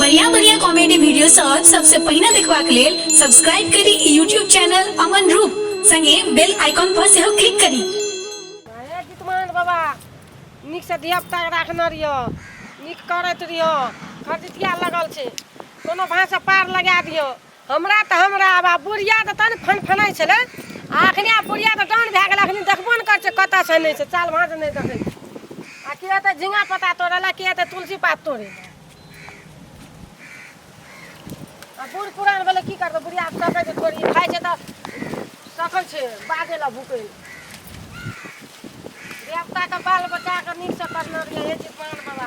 बढ़िया बढ़िया comedy video सब सबसे पहले देखवा के लेल सब्सक्राइब करी यूट्यूब चैनल अमन रूप संगे बेल आइकॉन पर से क्लिक करी हे जितमान बाबा नीक से धिया पुता राखने रहियो नीक करैत रहियो खरजितिया लगल छै कोनो भाँसँ पार लगा दियो हमरा तऽ हमरा आब आब बुढ़िया तऽ तहन फनफनाइ छलै आ एखने आब बुढ़िया तऽ डाउन भए गेल एखन देखबो नहि करै छै कतऽ छै नहि छै चाल भाँज नहि देखै छै आ के एतै झिंगा पत्ता तोड़ै लए के एतै तुलसी पात तोड़ै लए आ बूढ़ पुरान भेलै की करतै बुढ़िया सकैत छै थोड़ी खाइ छै तऽ सकै छै बाजै लए भूकै लए देवताके बाल बच्चाके नीकसँ करना रहियै हे जी पान बाबा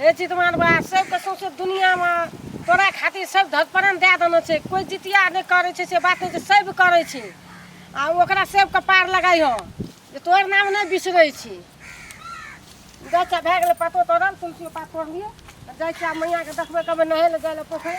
हे चितमान बा सबके सौंसे दुनियामे तोरा खातिर सब धतपरन दए देने छै कोइ जितिया नहि करै छै से बात नहि छै सब करै छै आ ओकरा सबके पार लगाइ हो जे तोहर नाम नहि बिसरै छी गच्चा भए गेलै पतो तोड़ल तुलसी पात तोड़लियै जाइ छियै मैयाके देखबै कहबै नहै लए जाइ लए पोखरि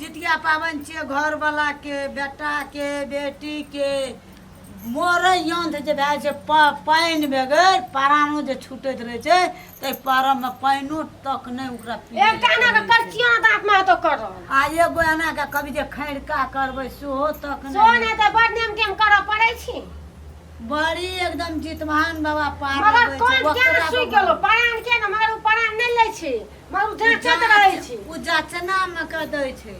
जितिया पाबनि छियै घरवलाके बेटाके बेटीके मरै यन्त्र जे भए छै प पानि बगैर प्राणो जे छूटैत रहै छै ताहि परमे पानिओ तक नहि ओकरा एकटा एनाके करचिया दाँतमे हेतो कर आ एगो एनाके कभी जे खैरका करबै सेहो तक सेहो नहि तऽ बड़ नेम टेम करऽ पड़ै छी बड़ी एकदम जितमान बाबा पार मगर लगबै छै, कोन ओकरा केना सुइ बाबा- गेलो परान के ने मगर ओ परान नहि लै छी माँ उ जांचत रहै छी उ जाचना में क दै छै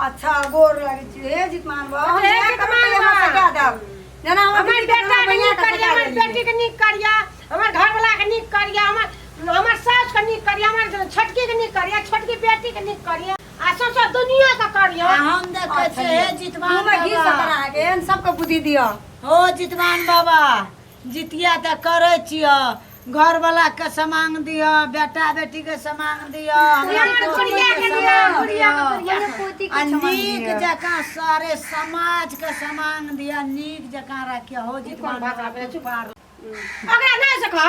अच्छा गोर लगे छी हे जितमान बा हम हे जाके जितमान रुपया बा। हमरा कटा देब जेना हमर हमर बेटी बेटा के नीक करिया हमर बेटी के नीक करिया हमर घरवाला के नीक करिया हमर हमर सास के नीक करिया हमर छोटकी के नीक करिया छोटकी बेटी के नीक करिया आ सौंसे दुनिया के करिया आ हम देखै छी हे जितवान घूमे घी बाबा सकरा के एहन सबके बुद्धि दिअ हो जितवान बाबा जितिया तऽ करै छिअ घर वाला के समांग दिअ बेटा बेटी के समांग दिअ हमरा पोती के समांग दिअ आ नीक जकाँ सारे समाज के समांग दिअ नीक जकाँ रखिअ हो जितवा पार ओकरा नहि सकल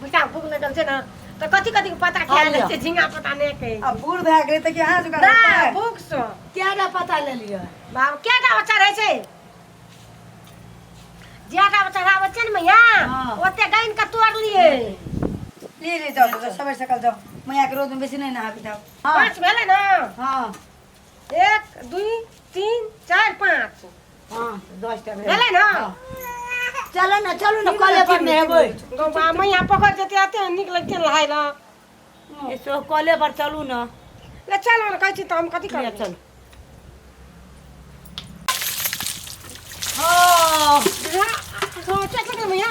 बुझा भूख न गल छै ना तो कथी कथी के पता खा ले छै झिंगा पता नहीं के अब बूढ़ भए गेलै तऽ कहाँ जुगाड़ ना हेतै? भूख सो कएटा पता ले लिअ बाबू क्या का बच्चा रहे छै जिया का बच्चा रहा बच्चे ने मैया हाँ। ओते गइन के तोड़ लिए ले ले जाओ तऽ सबै सकल जाओ मैया के रोज में बेसी नहीं नहाबी जाओ हाँ पाँच भेले ना हाँ एक दुई तीन चार पाँच हाँ दस टा भेल भेलै ने चलो ना चलो ना कॉले पर में हेबै गौ बा मैया पकड़ जेते आते निक लगते लहाय ल ऐसो कॉले पर चलू ना ले चल हम कहै छी त हम कथी करब चल हाँ हाँ चल चल मैया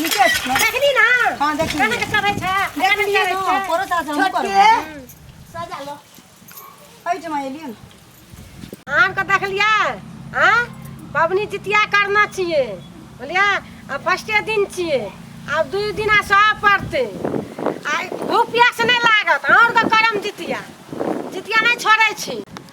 नीचे छै देखली ना हां देखली कहां के चढ़ै छै देखली ना करो सा हम करो सजा लो हई जमा एलियन आम के देखलिया हां पबनी जितिया करना चाहिए बोलिया आ फर्स्टे दिन छिए आ दू दिन आ सह पड़ते आ धूप प्यास नहीं लागत और के करम जितिया जितिया नहीं छोड़े छी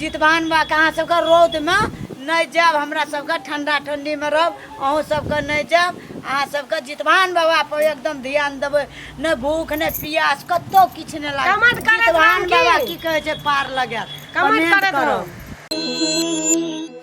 जितवाहन बाबाके अहाँ सबके रौदमे नहि जाएब हमरा सबके ठण्डा ठण्डीमे रहब अहूँ सबके नहि जाएब अहाँ सबके जितवाहन बाबापर एकदम ध्यान देबै नहि भूख नहि पियास कतौ किछु नहि लागत कमेंट करत जितवाहन रहू की? बाबा की कहै छै पार लगाएत कमेंट कमेंट करत करब। रहू।